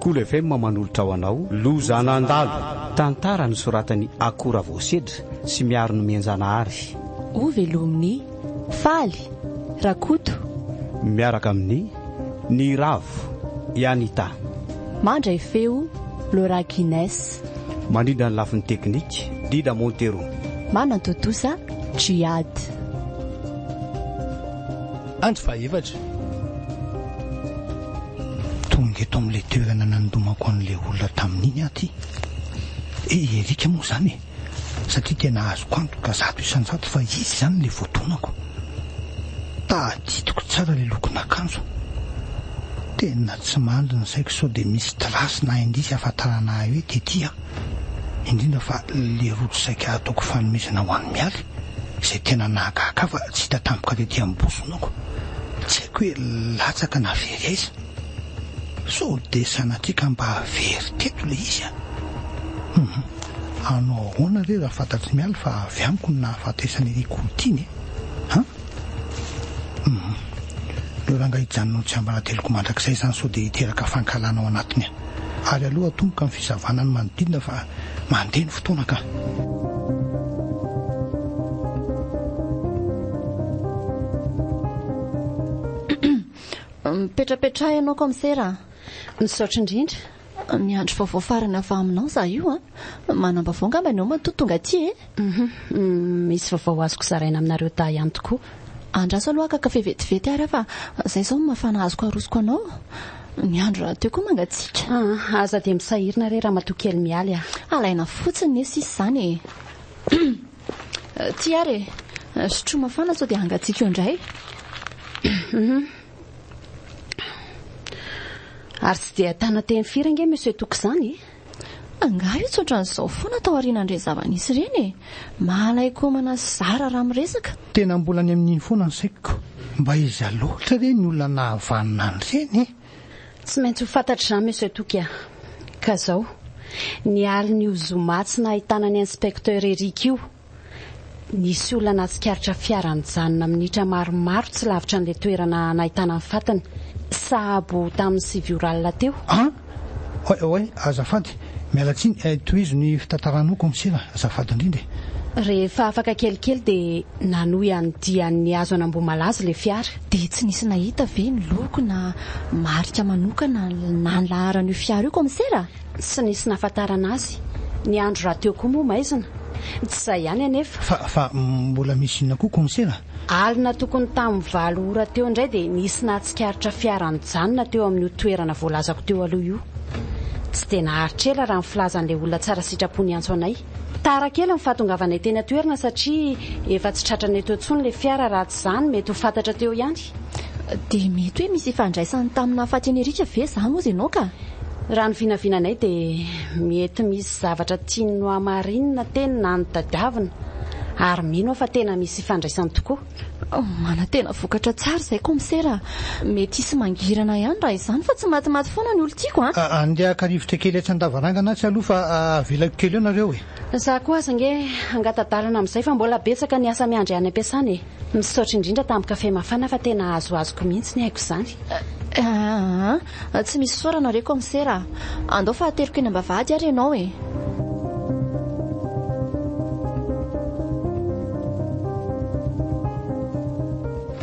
Cool FM manolotra ho anao Loza nandalo, tantara nosoratan'i Ako Ravoasedra sy Miaro Nomenjanahary. Ho velomin'i Faly Rakoto. Miaraka amin'i Ny Ravo, i Anita. Mandray feo, Laura Guines. Manindra ny lafiny teknika, Dida Montero. Manantontosa, Djihad. Andro fahaefatra. Tonga eto amin'ilay toerana nandomako an'ilay olona tamin'iny aho ity. I Eric moa izany e. Satria tena azoko antoka zato isan-jato fa izy izany ilay voadonako. Tadidiko tsara ilay lokon'akanjo. Tena tsy mandry ny saiko sao dia misy trace na indice ahafantarana ahy hoe tety aho. Indrindra fa ilay rojo saika hataoko fanomezana ho an'i Mialy. Izay tena nahagaga ahy fa tsy hita tampoka tety amin'ny bozonoko. Tsy haiko hoe latsaka na very aiza. Sao dia sanatria ka mba very teto ilay izy an! Humm. Hanao ahoana re raha fantatr'i Mialy fa avy amiko no nahafatesan' iny Koutin e? An? Humm. Ireo rangahy hijanona ho tsiambarateloko mandrakizay izany sao dia hiteraka fankahalana ao anatiny an! Ary aleo atomboka ny fizavana ny manodidina fa mandeha ny fotoana ka. Mipetrapetraha ianao Commissaire a! Misaotra indrindra. Miandry vaovao farany avy aminao izaho io a! Manam-baovao angamba ianao matoa tonga aty e! Hum misy vaovao azoko zaraina aminareo dahy ihany tokoa. Andraso aloha kaka fe vetivety ary aho fa zay zao no mafana azoko arosoko anao. Ny andro rahateo koa mangatsiaka. Aa aza dia misahirina re ramatoa kely Mialy a. Alaina fotsiny ne sisa izany e. Hum ty ary e. Sotroa mafana sao dia hangatsiaka eo indray. Hum ary tsy dia tana teny firy ange Monsieur Toky izany e. Angaha io tsy ohatran'izao foana taorian'andreny zava-nisy ireny e! Mahalay komana sy zara raha miresaka. Tena mbola any amin'iny foana ny saiko. Mba iza loatra re ny olona nahavanona an'ireny e? Tsy maintsy ho fantatry izany Monsieur Toky a! Ka izao, ny alin'io zoma tsy nahitana an'i Inspecteur Eric io Nisy olona nahatsikaritra fiara nijanona minitra maromaro tsy lavitra an'ilay toerana nahitana ny fatiny, sahabo tamin'ny sivy ora alina teo. An! Oay, oay, azafady, miala tsiny eh, tohizo ny fitantaranao Kaomisera, azafady indrindra eh. Rehefa afaka kelikely dia nanohy an'ny dian'ny hazo an'Ambohimalaza ilay fiara. Dia tsy nisy nahita ve ny loko na marika manokana na ny laharan'io fiara io Kaomisera? Tsy nisy nahafantarana azy. Ny andro rahateo koa moa maizina. Tsy izay ihany anefa. Fa, fa mbola misy inona koa konsera? Alina tokony tamin'ny valo ora teo indray dia nisy nahatsikaritra fiara nijanona teo amin'io toerana voalazako teo aloha io. Tsy dia naharitra ela raha ny filazan'ilay olona tsara sitrapo niantso anay. Tara kely ny fahatongavanay teny an-toerana satria efa tsy tratranay teo intsony ilay fiara raha tsy izany mety ho fantatra teo ihany. Dia mety hoe misy ifandraisany tamin'ny nahafatin'i Eric ve izany hozy ianao ka? Raha ny vinavinanay dia mety misy zavatra tiany nohamarinina teny na notadiavina ary mino aho fa tena misy ifandraisany tokoa. Manantena vokatra tsara izay komisera a! Mety hisy mangirana ihany raha izany fa tsy matimaty foana ny olon-tiako a! Andeha haka rivotra kely etsy an-davarangana atsy aloha fa avelako kely eo nareo e! Za koa aza ange hangata-dalana amin'izay fa mbola betsaka ny asa miandry any am-piasana e! Misaotra indrindra tamin'ny kafe mafana fa tena azoazoko mihitsy ny aiko izany. Tsy misy fisaorana re comsera a! Andao fahateloko eny ambavahady ary ianao e!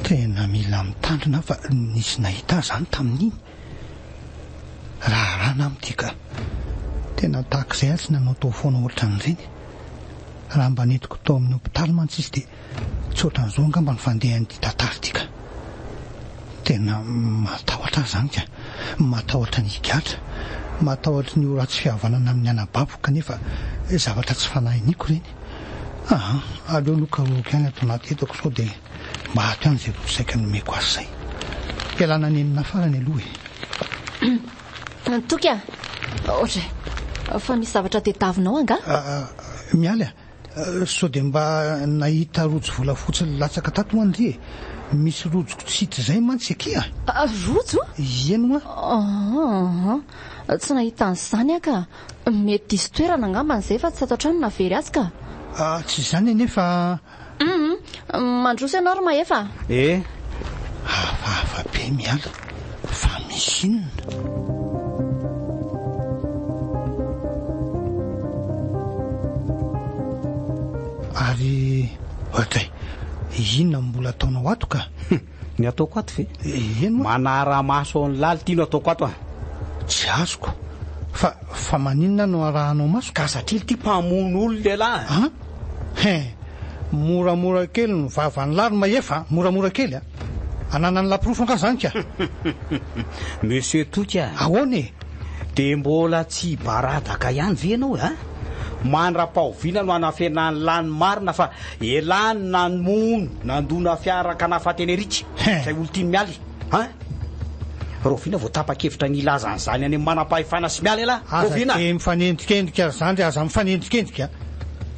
Tena mila mitandrina aho fa nisy nahita ahy izany tamin'iny raharaha namana ity ka! Tena tahaka izay aho tsy nanao taofoana ohatran'ireny. Raha mba nentiko tao amin'ny hopitaly mantsy izy dia Tsotra an'izao angamba ny fandehan'ity tantara ity ka! Tena matahotra aho izany ka! Matahotra ny higadra, matahotra ny ho ratsy fihavanana amin'ny anabaviko kanefa zavatra tsy fanahy iniako ireny. Aa! aleo aloha karohiko ihany ato anaty entako sao dia maty any izay vao saika nomeko azy izay. Ialana any aminà farany aloha e! Toky a! Ohatra fa misy zavatra tadiavinao angaha? Mialy a! Sao dia mba nahita rojo volafotsy nilatsaka tato ho'a ndry e! Misy rojo kitsity izay mantsy aky a! Rojo? Ieny ho'a! Aa! Tsy nahita an'izany aho ka! Mety diso toerana angambany izay fa tsy tato an-trano no nahavery azy ka! Aa! Tsy izany anie fa. Hum! Mandroso ianao ry Mahefa a! Eh! Hafahafa be miala fa misy inona? Ary, Oay kay! Inona no mbola ataonao ato ka? Ny ataoko ato ve? Eny moa. Manara-maso ao ny laly ity no ataoko ato an! Tsy azoko. Fa, fa maninona no arahanao maso? Ka satria ity mpamono olona ialahy an! An? He! Moramora kely ny vavan'ny lahy ry Mahefa an! Moramora kely an! Ananan'ny lahy porofo angaha izany ka! Monsieur Toky an! Ahoana e? Dia mbola tsy hibaradaka ihany ve ianao e? An? Mandra-pahoviana no hanafenan'ny lahy ny marina fa. Elah ny namono nandona fiara kanafa teny Rica izay olon-tiany Mialy a! Rahoviana vao tapa-kevitra ny hilaza an'izany any amin'ny manam-pahefana sy Mialy elah? Rahoviana? Aza dia mifanendrikendrika ry zandry aza mifanendrikendrika!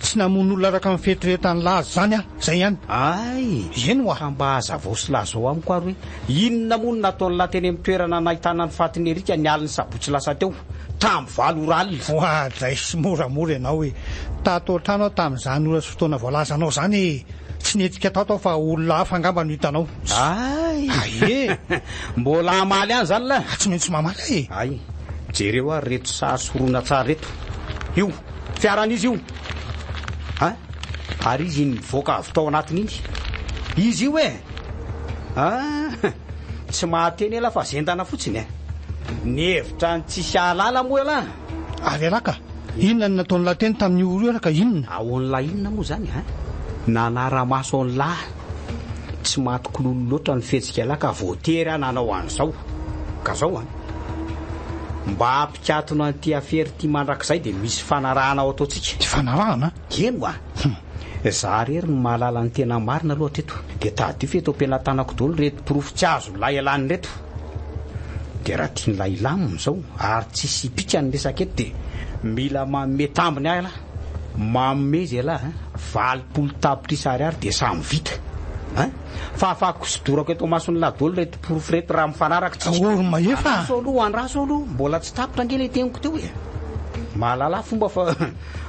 Tsy namono olona araka ny fieritreretan'lah azy izany aho, izay ihany! Hay! Eny oa! Ka mba hazavao sy lazao amiko ary hoe. Inona moa no nataon'lah teny amin'ny toerana nahitana ny fatin'i Eric ny alin'ny sabotsy lasa teo, tamin'ny valo ora alina? Voadray simoramora ianao e! Tato an-trano aho tamin'izany ora sy fotoana voalazanao izany e! Tsy nietsikka tato aho fa olona hafa angamba no hitanao. Hay! Aie! Mbola hamaly any izany lah? Tsy maintsy mamaly aho e! Hay! Jereo ary ireto sary sy horonantsary ireto. Io, fiaran'izy io. Hay! Ary izy iny mivoaka avy tao anatiny iny. Izy io e! Ah! Tsy mahateny elah fa zendana fotsiny eh! Mihevitra ny tsisy ahalala moa elah? Ary elah ka! Inona no nataon'i lah teny tamin'io oro io elah ka inona? Ahoan'i lah inona moa izany eh? Nanara-maso an'i lah tsy matokololo loatra ny fihetsika elah ka voatery aho nanao an'izao. Ka zao an! Mba hampikatona an'ity afera ity mandrakizay dia misy fanarahana ho ataontsika. Fanarahana? Heno a! Humm! Za rery no mahalala ny tena marina aloha hatreto. Dia tadidio fa eto am-pelatanako daholo ireto porofo tsy azon'ny lahialany ireto. Dia raha tian'ilay hilamina izao ary tsy hisy hipika ny resaka eto dia mila manome tambiny ahy ialahy. Manome izy ialahy a! Valopolo tapitrisa ariary dia samy vita. Hein! Fafako sy dorako eto amason'ilahy daholo ireto porofo ireto raha mifanaraka tsika. Aory Mahefa a! Andraso aloha, andraso aloha, mbola tsy tapitra ange ilay teniko teo e! Mahalala fomba fa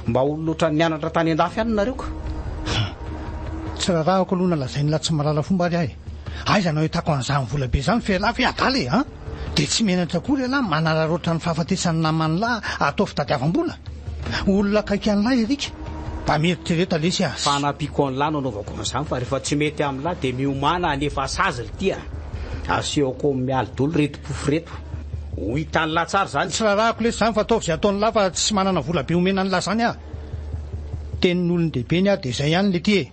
Mba olona otrany nianatra tany andafy ihany nareo ka. Humm. Tsy rarahako aloha na lazain'i la tsy mahalala fomba ary ahy. Aiza no ahitako an'izany vola be izany f'elah ve adala e! an! Dia tsy menatra akory elah manararaotra ny fahafatesan'ny naman'lah atao fitadiavam-bola? Olona akaiky an'lah Eric? Mba mieritrereta lesy a! Fa hanampiako an'lah no anaovako an'izany fa rehefa tsy mety amin'lah dia miomàna hanefa sazy ry ty a! Asehoko amin'ny mialy doly ry pofy reto. Ho hitan lah tsara zany. Tsy rarahako lesy zany fa ataovy zay ataony lah fa tsy manana vola be omena anlah zany ah. Tenin olon dehibe ny ah de zay ihany lety eh.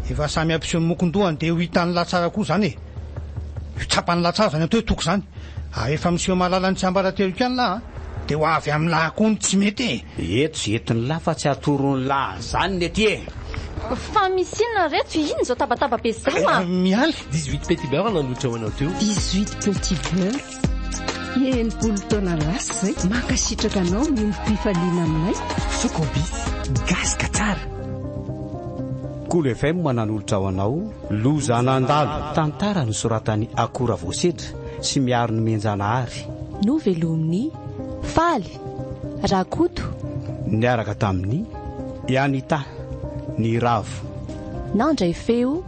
Efa samy ampiseho ny mokon dohany de ho hitan lah tsara koa zany eh. Ho tsapan lah tsara zany atao hoe toky zany. Ah rehefa miseho mahalala ny tsiambarateloko ihany lah ah de ho avy amin lah koa ny tsy mety eh. Eto zay entin lah fa tsy atoron lah zany lety eh. Fa misy inona reto? Inona izao tabataba be izao ah? Mialy, 18 petit beurre nandroitra ho anao teo. 18 petit beurre. Enimpolo taona lasa zay. Mankasitraka anao ny ombim-pifaliana aminay. Sokobis, gasy ka tsara. Kolo FM nanolotra ho anao Loza nandalo. Tantara nosoratan'i Akoho Ravoasedra sy Miaro Nomenjanahary. Novelomin'i Faly Rakoto. Niaraka tamin'i Anita Niravo. Nandray feo